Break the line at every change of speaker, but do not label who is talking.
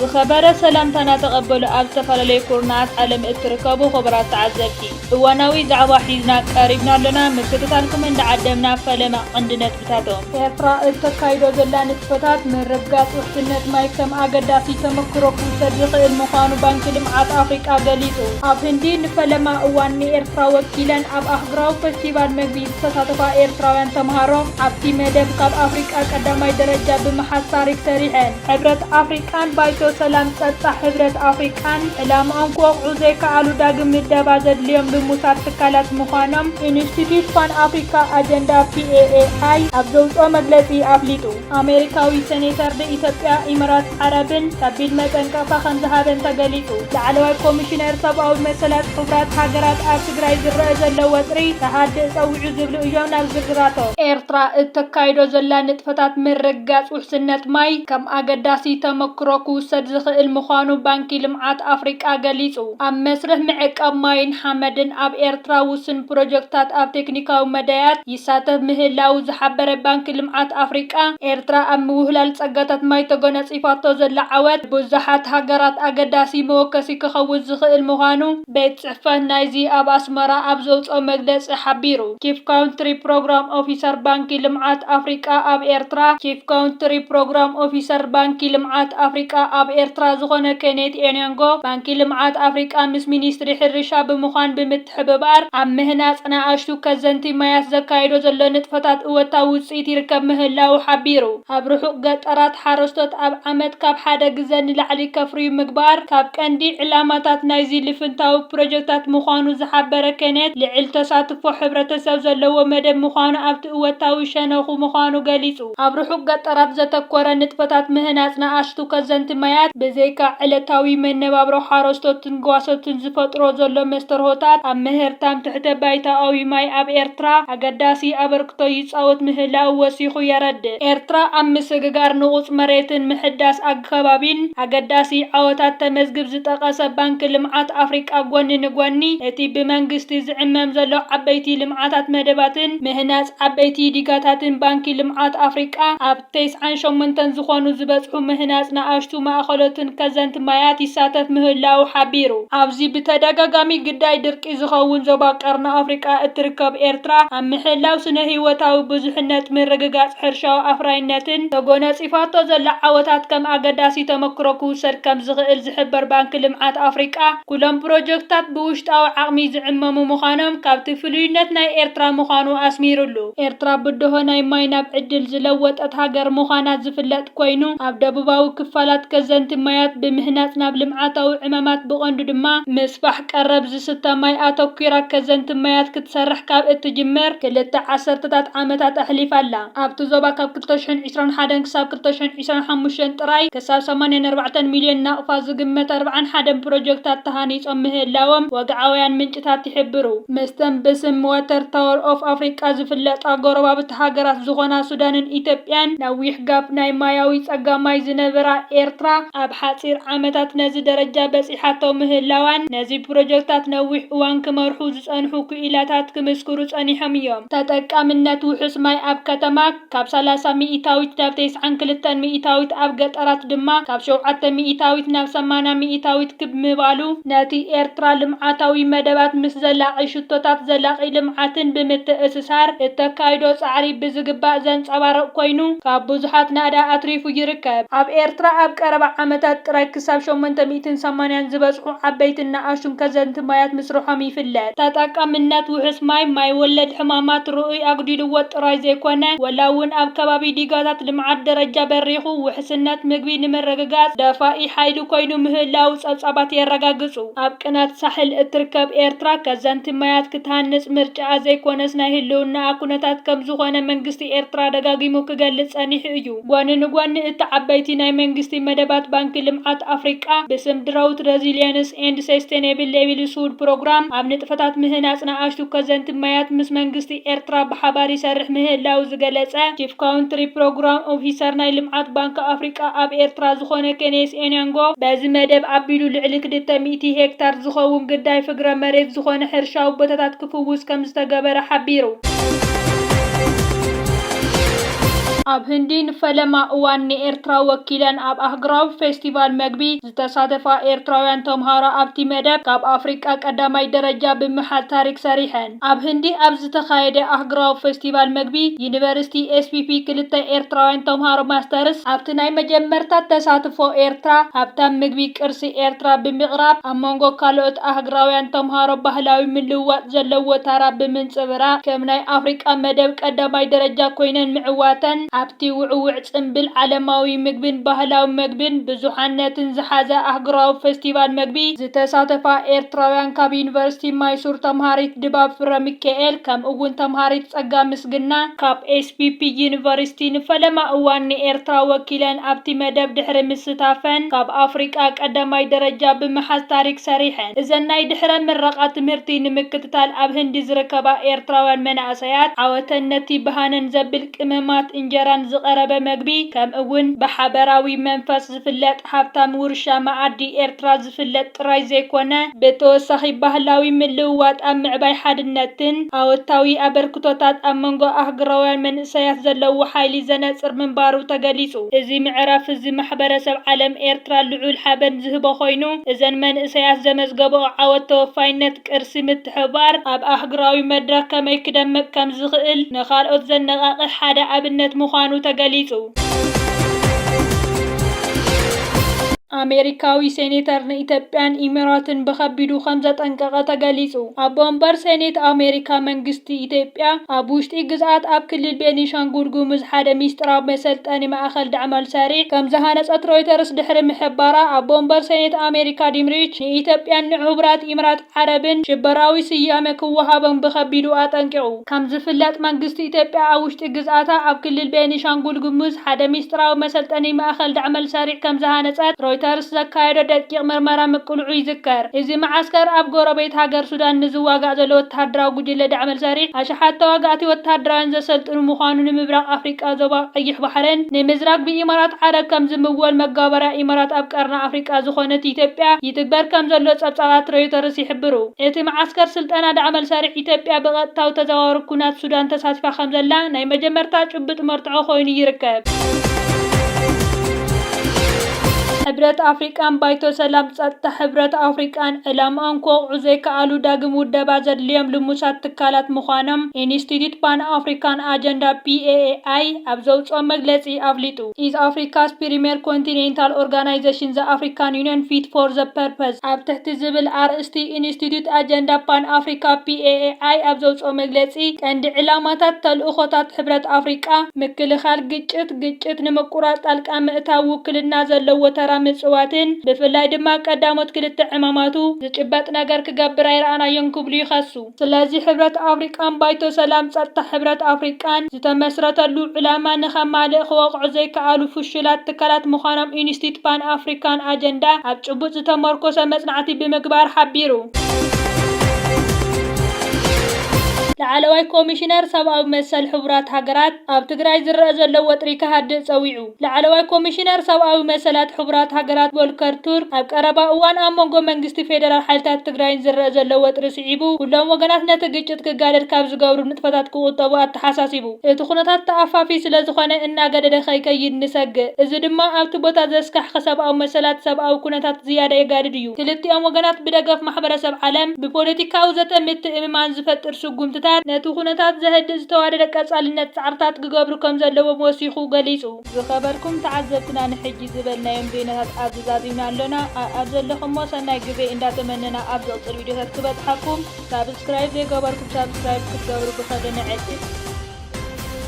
ዝኸበረ ሰላምታና ተቐበሉ ኣብ ዝተፈላለዩ ኩርናዓት ዓለም እትርከቡ ኹቡራት ተዓዘብቲ እዋናዊ ዛዕባ ሒዝና ቀሪብና ኣሎና ምክትታልኩም እንዳዓደምና ፈለማ ቐንዲ ነጥቢ ኔታቶ፣ ኤርትራ እተካይዶ ዘላ ንጥፈታት ምርግጋጽ ውሕስነት ማይ ከም ኣገዳሲ ተመክሮ ክውሰድ ዝኽእል ምዃኑ ባንኪ ልምዓት ኣፍሪቃ ገሊጹ። ኣብ ህንዲ ንፈለማ እዋን ንኤርትራ ወኪለን ኣብ ኣህጉራዊ ፈስቲቫል መግቢ ዝተሳተፋ ኤርትራውያን ተመሃሮ፣ ኣብቲ መደብ ካብ ኣፍሪቃ ቀዳማይ ደረጃ ብምሓዝ ታሪኽ ሰሪሐን። ሕብረት ኣፍሪቃን ባይቶ ሰላም ጸጥታ ሕብረት ኣፍሪቃን ዕላምኦም ክወቕዑ ዘይከኣሉ ዳግም ምደባ ዘድልዮም ልሙሳት ትካላት ምዃኖም ኢንስቲትዩት ፓን ኣፍሪካ ኣጀንዳ፣ PAAI፣ ኣብ ዘውጽኦ መግለጺ ኣፍሊጡ። ኣሜሪካዊ ሰኔተር ንኢትዮጵያ፣ ኢምራት ዓረብን ከቢድ መጠንቀቕታ ከምዝሃበን ተገሊጹ። ላዕለዋይ ኮሚሽነር ሰብኣዊ መሰላት ሕቡራት ሃገራት ኣብ ትግራይ ዝረኣ ዘሎ ወጥሪ ክሃድእ ጸዊዑ ዝብሉ እዮም። ናብ ዝርዝራቶም። ኤርትራ እተካይዶ ዘላ ንጥፈታት ምርግጋጽ ውሕስነት ማይ ከም ኣገዳሲ ተመክሮ ክውሰድ ዝኽእል ምዃኑ ባንኪ ልምዓት ኣፍሪቃ ገሊጹ። ኣብ መስርሕ ምዕቃብ ማይን ሓመድን ኣብ ኤርትራ ውሱን ፕሮጀክትታት ኣብ ቴክኒካዊ መዳያት ይሳተፍ ምህላዉ ዝሓበረ ባንኪ ልምዓት ኣፍሪቃ፣ ኤርትራ ኣብ ምውህላል ጸጋታት ማይ ተጎናጺፋቶ ዘላ ዓወት ንብዙሓት ሃገራት ኣገዳሲ መወከሲ ክኸውን ዝኽእል ምዃኑ ቤት ፅሕፈት ናይዚ ኣብ ኣስመራ ኣብ ዘውፅኦ መግለፂ ሓቢሩ። ቺፍ ካውንትሪ ፕሮግራም ኦፊሰር ባንኪ ልምዓት ኣፍሪቃ ኣብ ኤርትራ ቺፍ ካውንትሪ ፕሮግራም ኦፊሰር ባንኪ ልምዓት ኣፍሪቃ ኣብ ኤርትራ ዝኾነ ኬኔት ኤንዮንጎ ባንኪ ልምዓት ኣፍሪቃ ምስ ሚኒስትሪ ሕርሻ ብምዃን ብምትሕብባር ኣብ ምህናፅ ንኣሽቱ ከዘንቲ ማያት ዘካይዶ ዘሎ ንጥፈታት እወታዊ ውፅኢት ይርከብ ምህላዉ ሓቢሩ። ኣብ ርሑቕ ገጠራት ሓረስቶት ኣብ ዓመት ካብ ሓደ ግዘ ንላዕሊ ከፍርዩ ምግባር ካብ ቀንዲ ዕላማታት ናይዚ ልፍንታዊ ፕሮጀክታት ምዃኑ ዝሓበረ ኬኔት፣ ልዕል ተሳትፎ ሕብረተሰብ ዘለዎ መደብ ምዃኑ ኣብቲ እወታዊ ሸነኹ ምዃኑ ገሊፁ። ኣብ ርሑቕ ገጠራት ዘተኮረ ንጥፈታት ምህናፅ ንኣሽቱ ከዘንቲ ማያት ብዘይካ ዕለታዊ መነባብሮ ሓረስቶትን ጓሶትን ዝፈጥሮ ዘሎ መስተርሆታት ኣብ ምህርታም ትሕተ ባይታኣዊ ማይ ኣብ ኤርትራ ኣገዳሲ ኣበርክቶ ይጻወት ምህላዉ ወሲኹ የረድእ። ኤርትራ ኣብ ምስግጋር ንቑጽ መሬትን ምሕዳስ ኣግከባቢን ኣገዳሲ ዓወታት ተመዝግብ ዝጠቐሰ ባንኪ ልምዓት ኣፍሪቃ ጎኒ ንጎኒ እቲ ብመንግስቲ ዝዕመም ዘሎ ዓበይቲ ልምዓታት መደባትን ምህናጽ ዓበይቲ ዲጋታትን ባንኪ ልምዓት ኣፍሪቃ ኣብ ተስዓን ሸሞንተን ዝኾኑ ዝበጽሑ ምህናጽ ንኣሽቱ ማእኸሎትን ከዘንቲ ማያት ይሳተፍ ምህላዉ ሓቢሩ። ኣብዚ ብተደጋጋሚ ግዳይ ድርቂ ዝኸውን ዞባ ቀርኒ ኣፍሪቃ እትርከብ ኤርትራ፣ ኣብ ምሕላው ስነ-ህይወታዊ ብዙሕነት፣ ምርግጋጽ ሕርሻዊ ኣፍራይነትን ተጎነጺፋቶ ዘላ ዓወታት ከም ኣገዳሲ ተመክሮ ክውሰድ ከምዝኽእል ዝሕበር ባንኪ ልምዓት ኣፍሪቃ፣ ኩሎም ፕሮጀክትታት ብውሽጣዊ ዓቕሚ ዝዕመሙ ምዃኖም ካብቲ ፍሉይነት ናይ ኤርትራ ምዃኑ ኣስሚርሉ። ኤርትራ ብድሆ ናይ ማይ ናብ ዕድል ዝለወጠት ሃገር ምዃና ዝፍለጥ ኮይኑ፣ ኣብ ደቡባዊ ክፋላት ከዘንቲ ማያት ብምህናጽ ናብ ልምዓታዊ ዕማማት ብቐንዱ ድማ ምስፋሕ ቀረብ ዝስተ ማይ ኣተኲራ ከዘንቲ ማያት ክትሰርሕ ካብ እትጅምር ክልተ ዓሰርተታት ዓመታት ኣሕሊፋ ኣላ። ኣብቲ ዞባ ካብ ክልተ ሽሕን ዕስራን ሓደን ክሳብ ክልተ ሽሕን ዕስራን ሓሙሽተን ጥራይ ክሳብ ሰማንያን ኣርባዕተን ሚልዮን ናቕፋ ዝግመት ኣርብዓን ሓደን ፕሮጀክታት ተሃኒጾም ምህላዎም ወግዓውያን ምንጭታት ይሕብሩ። ምስተን ብስም ዋተር ታወር ኦፍ ኣፍሪቃ ዝፍለጣ ጎረባብቲ ሃገራት ዝኾና ሱዳንን ኢትዮጵያን ነዊሕ ጋፕ ናይ ማያዊ ጸጋ ማይ ዝነበራ ኤርትራ ኣብ ሓጺር ዓመታት ነዚ ደረጃ በጺሓቶ ምህላዋን ነዚ ፕሮጀክታት ነዊሕ እዋን ክመርሑ ዝጸንሑ ክኢላታት ክምስክሩ ጸኒሖም እዮም። ተጠቃምነት ውሑስ ማይ ኣብ ከተማ። ካብ ሰላሳ ሚኢታዊት ናብ ተስዓን ክልተን ሚኢታዊት ኣብ ገጠራት ድማ ካብ ሸውዓተ ሚኢታዊት ናብ ሰማንያ ሚኢታዊት ክብ ምባሉ፣ ነቲ ኤርትራ ልምዓታዊ መደባት ምስ ዘላቒ ሽቶታት ዘላቒ ልምዓትን ብምትእስሳር እተካይዶ ጻዕሪ ብዝግባእ ዘንጸባርቕ ኮይኑ፣ ካብ ብዙሓት ናእዳ ኣትሪፉ ይርከብ። ኣብ ኤርትራ ኣብ ቀረባ ዓመታት ጥራይ ክሳብ ሸሞንተ ሚእትን ሰማንያን ዝበጽሑ ዓበይትን ንኣሽቱን ከዘንትን፣ ማያት ማያት ምስርሖም ይፍለጥ። ተጠቃምነት ውሑስ ማይ፣ ማይ ወለድ ሕማማት ርኡይ ኣጉዲልዎ ጥራይ ዘይኮነ፣ ወላ እውን ኣብ ከባቢ ዲጋታት ልምዓት ደረጃ በሪኹ ውሕስነት ምግቢ ንምርግጋፅ ደፋኢ ሓይሊ ኮይኑ ምህላዉ ፀብፃባት የረጋግፁ። ኣብ ቅናት ሳሕል እትርከብ ኤርትራ ከዘንቲ ማያት ክትሃንፅ ምርጫኣ ዘይኮነስ ናይ ህልውናኣ ኩነታት ከምዝኾነ መንግስቲ ኤርትራ ደጋጊሙ ክገልፅ ፀኒሑ እዩ። ጎኒ ንጎኒ እቲ ዓበይቲ ናይ መንግስቲ መደባት ባንኪ ልምዓት ኣፍሪቃ ብስም ድራውት ረዚሊየንስ ኤንድ ሰስቴኔብል ሌቪሊስሁድ ፕሮግራም ኣብ ንጥፈታት ምህናፅ ንኣሽቱ ከዘንቲ ማያት ምስ መንግስቲ ኤርትራ ብሓባር ይሰርሕ ምህላው ዝገለፀ ቺፍ ካውንትሪ ፕሮግራም ኦፊሰር ናይ ልምዓት ባንኪ ኣፍሪቃ ኣብ ኤርትራ ዝኾነ ኬኔስ ኤንያንጎ በዚ መደብ ኣቢሉ ልዕሊ ክልተ ሚእቲ ሄክታር ዝኸውን ግዳይ ፍግረ መሬት ዝኾነ ሕርሻዊ ቦታታት ክፍውስ ከምዝተገበረ ሓቢሩ። ኣብ ህንዲ ንፈለማ እዋን ንኤርትራ ወኪለን ኣብ ኣህጉራዊ ፌስቲቫል መግቢ ዝተሳተፋ ኤርትራውያን ተምሃሮ ኣብቲ መደብ ካብ ኣፍሪቃ ቀዳማይ ደረጃ ብምሓዝ ታሪክ ሰሪሐን። ኣብ ህንዲ ኣብ ዝተኻየደ ኣህጉራዊ ፌስቲቫል መግቢ ዩኒቨርሲቲ ኤስፒፒ ክልተ ኤርትራውያን ተምሃሮ ማስተርስ ኣብቲ ናይ መጀመርታ ተሳትፎ ኤርትራ ሃብታም ምግቢ ቅርሲ ኤርትራ ብምቕራብ ኣብ መንጎ ካልኦት ኣህግራውያን ተምሃሮ ባህላዊ ምልውዋጥ ዘለዎ ታራ ብምንጽብራቕ፣ ከም ናይ ኣፍሪቃ መደብ ቀዳማይ ደረጃ ኮይነን ምዕዋተን፣ ኣብቲ ውዕዉዕ ጽምብል ዓለማዊ ምግብን ባህላዊ መግብን ብዙሓነትን ዝሓዘ ኣህጉራዊ ፈስቲቫል መግቢ ዝተሳተፋ ኤርትራውያን ካብ ዩኒቨርሲቲ ማይሱር ተምሃሪት ድባብ ፍረሚካኤል ከምኡ'ውን ተምሃሪት ጸጋ ምስግና፣ ካብ SPP University፣ ንፈለማ እዋን ንኤርትራ ወኪለን ኣብቲ መደብ ድሕሪ ምስታፈን፣ ካብ ኣፍሪቃ ቀዳማይ ደረጃ ብምሓዝ ታሪክ ሰሪሐን። እዘን ናይ ድሕረ ምረቓ ትምህርቲ ንምክትታል ኣብ ህንዲ ዝርከባ ኤርትራውያን መናእሰያት፣ ዓወተን ነቲ ብሃነን ዘብል ቅመማት እንጀራን ዝቐረበ መግቢ፣ ከምእውን ብሓበራዊ መንፈስ ዝፍለጥ፣ ሃብታም ውርሻ መኣዲ ኤርትራ ዝፍለጥ ጥራይ ዘይኮነ፣ ብተወሳኺ ባህላዊ ምልውዋጥ ኣብ ምዕባይ ሓድነትን ኣወታዊ ኣበርክቶታት ኣብ መንጎ ኣህጉራውያን መንእሰያት ዘለዎ ሓይሊ ዘነጽር ምንባሩ ተገሊጹ። እዚ ምዕራፍ እዚ ማሕበረሰብ ዓለም ኤርትራ ልዑል ሓበን ዝህቦ ኮይኑ፣ እዘን መንእሰያት ዘመዝገብኦ ዓወት ተወፋይነት፣ ቅርሲ ምትሕብባር ኣብ ኣህጉራዊ መድረኽ ከመይ ክደምቕ ከም ዝኽእል ንኻልኦት ዘነቓቕሕ ሓደ ኣብነት ምዃኑ ተገሊጹ። ኣሜሪካዊ ሴኔተር ንኢትዮጵያን ኢሚራትን ብኸቢዱ ከም ዘጠንቀቐ ተገሊጹ። ኣቦ ወንበር ሴኔት ኣሜሪካ መንግስቲ ኢትዮጵያ ኣብ ውሽጢ ግዝኣት ኣብ ክልል ቤኒንሻንጉል ጉሙዝ ሓደ ሚስጥራዊ መሰልጠኒ ማእኸል ዳዕማል ሰሪዕ ከም ዝሃነፀት ሮይተርስ ድሕሪ ምሕባራ ኣቦ ወንበር ሴኔት ኣሜሪካ ጂም ሪች ንኢትዮጵያን ንሕቡራት ኢምራት ዓረብን ሽበራዊ ስያመ ክወሃቦም ብኸቢዱ ኣጠንቂቑ። ከም ዝፍለጥ መንግስቲ ኢትዮጵያ ኣብ ውሽጢ ግዝኣታ ኣብ ክልል ቤኒሻንጉል ጉሙዝ ሓደ ሚስጥራዊ መሰልጠኒ ማእኸል ዳዕመል ሰሪዕ ከም ዝሃነፀት ሮይተርስ ዘካየዶ ደቂቕ ምርመራ ምቅልዑ ይዝከር። እዚ መዓስከር ኣብ ጎረቤት ሃገር ሱዳን ንዝዋጋእ ዘሎ ወተሃደራዊ ጉጅለ ዳዕመል ሰሪዕ ኣሽሓት ተዋጋእቲ ወተሃደራውያን ዘሰልጥኑ ምዃኑ ንምብራቕ ኣፍሪቃ ዞባ ቀይሕ ባሕርን ንምዝራግ ብኢማራት ዓረብ ከም ዝምወል መጋበርያ ኢማራት ኣብ ቀርኒ ኣፍሪቃ ዝኾነት ኢትዮጵያ ይትግበር ከምዘሎ ጸብጻባት ሮይተርስ ይሕብሩ። እቲ መዓስከር ስልጠና ዳዕመል ሰሪዕ ኢትዮጵያ ብቐጥታዊ ተዘዋዋሪ ኩናት ሱዳን ተሳቲፋ ከምዘላ ናይ መጀመርታ ጭብጥ መርትዖ ኮይኑ ይርከብ። ሕብረት ኣፍሪቃን ባይቶ ሰላም ጸጥታ ሕብረት ኣፍሪቃን ዕላምኦም ክወቕዑ ዘይከኣሉ ዳግም ውደባ ዘድልዮም ልሙሳት ትካላት ምዃኖም ኢንስቲትዩት ፓን ኣፍሪካን ኣጀንዳ፣ PAAI፣ ኣብ ዘውጽኦ መግለጺ ኣፍሊጡ። ኣመልኪቱ። ኢዝ ኣፍሪካስ ፕሪሜር ኮንቲኔንታል ኦርጋናይዘሽን ዘ ኣፍሪካን ዩኒየን ፊት ፎር ዘ ፐርፐዝ ኣብ ትሕቲ ዝብል ኣርእስቲ ኢንስቲትዩት ኣጀንዳ ፓን ኣፍሪካ፣ PAAI፣ ኣብ ዘውፅኦ መግለፂ ቀንዲ ዕላማታት ተልእኾታት ሕብረት ኣፍሪቃ ምክልኻል ግጭት፣ ግጭት ንምቁራፅ ጣልቃ ምእታው፣ ውክልና ዘለዎ ተራ ምፅዋትን ብፍላይ ድማ ቀዳሞት ክልተ ዕማማቱ ዝጭበጥ ነገር ክገብር ኣይረኣናዮን ክብሉ ይኸሱ። ስለዚ ሕብረት ኣፍሪቃን ባይቶ ሰላም ጸጥታ ሕብረት ኣፍሪቃን ዝተመስረተሉ ዕላማ ንኸማልእ ክወቕዑ ዘይከኣሉ ፍሹላት ትካላት ምዃኖም ኢንስቲትዩት ፓን ኣፍሪካን ኣጀንዳ ኣብ ጭቡጥ ዝተመርኮሰ መጽናዕቲ ብምግባር ሓቢሩ። ላዕለዋይ ኮሚሽነር ሰብኣዊ መሰል ሕቡራት ሃገራት ኣብ ትግራይ ዝረኣ ዘሎ ወጥሪ ክሃድእ ጸዊዑ። ላዕለዋይ ኮሚሽነር ሰብኣዊ መሰላት ሕቡራት ሃገራት ቮልከር ቱርክ ኣብ ቀረባ እዋን ኣብ መንጎ መንግስቲ ፌደራል ሓይልታት ትግራይን ዝረኣ ዘሎ ወጥሪ ስዒቡ ኩሎም ወገናት ነቲ ግጭት ክጋደድ ካብ ዝገብሩ ንጥፈታት ክቑጠቡ ኣተሓሳሲቡ። እቲ ኩነታት ተኣፋፊ ስለዝኾነ እናገደደ ከይከይድ ንሰግእ። እዚ ድማ ኣብቲ ቦታ ዘስካሕኽሕ ሰብኣዊ መሰላት ሰብኣዊ ኩነታት ዝያዳ የጋድድ እዩ። ክልቲኦም ወገናት ብደገፍ ማሕበረሰብ ዓለም ብፖለቲካዊ ዘተ ምትእምማን ዝፈጥር ስጉምትታት ነቲ ኩነታት ዘህድእ ዝተዋደደ ቀፃልነት ፃዕርታት ክገብሩ ከም ዘለዎም ወሲኹ ገሊጹ። ዝኸበርኩም ተዓዘብትና ንሕጂ ዝበልናዮም ዜናታት ኣብዚ ዛዚምና ኣሎና ኣኣብ ዘለኹሞ ሰናይ ግዜ እንዳ ተመነና ኣብ ዝቕጽል ቪድዮታት ክበጽሓኩም ሳብስክራይብ ዘይገበርኩም ሳብስክራይብ ክትገብሩ ብኸብሪ ንዕድም።